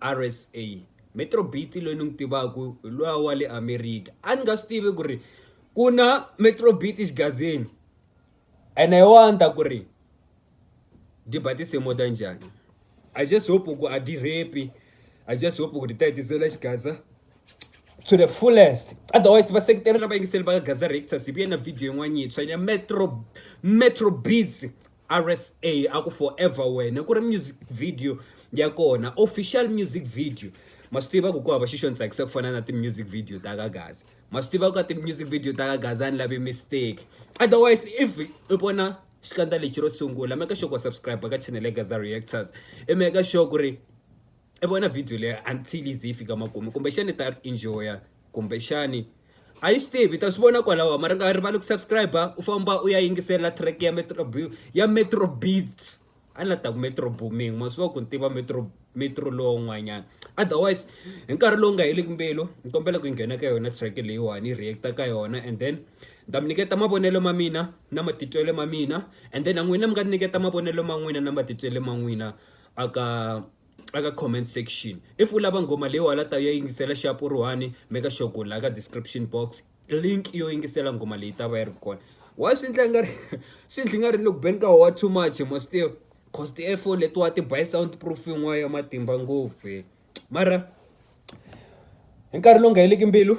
RSA Metro Beaty loyi ni n'wi tivaka hi luya wa le America a ni nga swi tivi ku ri ku na Metro Beaty xigazini ene hi wona ni ta ku ri byi ba tinsimu ta njhani I just hope ku a byi rape I just hope ku ri ta hetisela xigaza to the fullest otherwise vaseketeri na vayingiseli va Gaza Reactors hi vuye na video yin'wana yintshwa ya Metro Metro Beats RSA a ku forever wena ku ri music video ya kona official music video ma swi tiva ku ku hava xi xo ni tsakisa ku fana na ti-music video ta ka gaza ma swi tiva ku ka ti-music video ta ka gaza a ni lavi mistake otherwise if i vona xikandza lexi ro sungula make sure ku wa subscribe ka channel ya gaza reactors i make sure ku ri i vona video leyi until ize yi fika makumu kumbexani ta ri enjoya kumbexani a yi swi tivi ta swi vona kwalaho mara nga rivali ku subscribe u famba u ya yingisela track ya metro b ya metro beats a ni la ta ku metro booming ma swi va ku ni tiva metro metro lowun'wanyana otherwise hi nkarhi lowu nga heliki mbilu ni kombela ku nghena ka yona track leyiwani reacta ka yona and then ni ta mi nyiketa mavonelo ma mina na matitwelo ma mina and then na n'wina mi nga ni nyiketa mavonelo ma n'wina na matitwelo ma n'wina a ka a ka comment section if u lava nghoma leyi wena u ta ya yingisela xap u ri one make sure ku laha ka description box link yo yingisela nghoma leyi ta va yi ri kona wa swi endla nga ri swi endli nga ri loko beni ka howa too much mo swi tiva cause ti-earphone letiwa ti buy sound proof yin'wana ya matimba ngopfu mara hi nkarhi lowu nga heliki mbilu.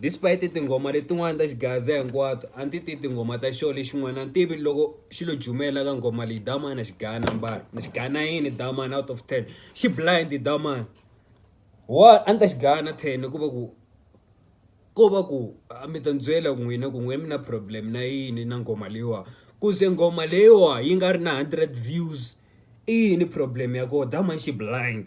Despite tinghoma letin'wana ta xigaza hinkwato a ndzi ti tinghoma ta xona lexin'wana a ntivi loko xi lo jumela ka nghoma leyi damana xi gaya nambara ni xi gaya na yini damana out of ten xi blind damana wa a ndzi ta xi gaya na ten ku va ku ko va ku a mi ta ndzi byela ku n'wina ku n'wina mi na problem na yini na nghoma leyiwa ku ze nghoma leyiwa yi nga ri na hundred views i yini problem ya kona damana xi blind.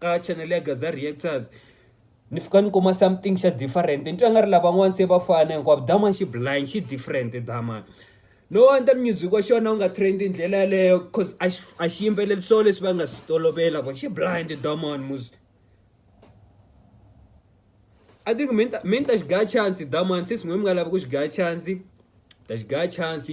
ka channel ya Gaza Reactors ni fika ni kuma something xa different ni twa nga ri lavan'wana se va fana hinkwavo dama xi blind xi different dama no endla music wa xona u nga trend hi ndlela yaleyo cause a xi a xi yimbeleli so leswi va nga swi tolovela vo xi blind daman mus I think mi ni ta xi gaya chance daman since n'wina mi nga lavi ku xi gaya chance ta xi gaya chance.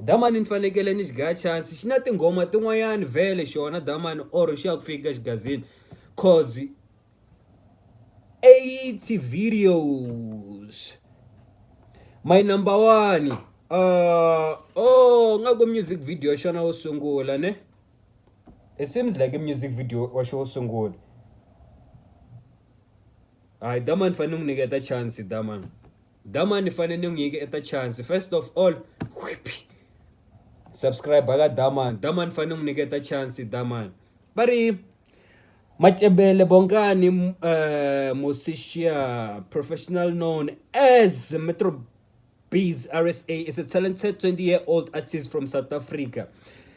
Damani ni fanekele ni xi gaya chance xi na tinghoma tin'wanyani vhele xona damani or xi ya ku fika xigazini cause eighty videos my number one uh, oh nga ku music video xona wo sungula ne it seems like i music video wa xo wo sungula hayi damani fanele ni n'wi nyiketa chance damani Dama ni fane ni n'wi nyike eta chance first of all subscribe ka Daman Daman fane n'wi nyike eta chance Daman va ri Macebele Bongani uh, eh, Mosishia professional known as Metro Beats RSA is a talented 20 year old artist from South Africa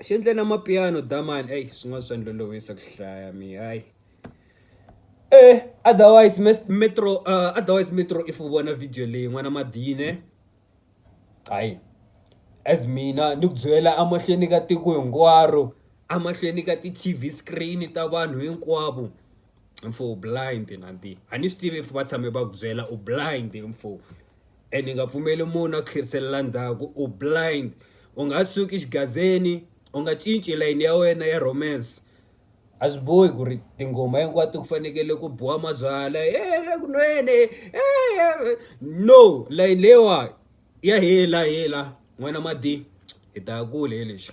xi endle na mapiano damani eyi swin'wana swa ni lolohisa ku hlaya mehe hayi eeh otherwise Metro otherwise Metro if u vona video leyi n'wana Madini hayi as mina ni ku byela emahlweni ka tiko hinkwaro emahlweni ka ti-T_V screen ta vanhu hinkwavo mfo u blind a ni swi tivi if va tshame va ku byela u blind mfo. and hi nga pfumeli munhu a ku tlheriselela ndzhaku u blind u nga suki xigazeni u nga cinci layini ya wena ya romance a swi bohi ku ri tinghoma hinkwato ku fanekele ku biwa mabyala ele ku nwene no layini leyiwa ya hela hela n'wana madi hi ta ya kule hi lexi.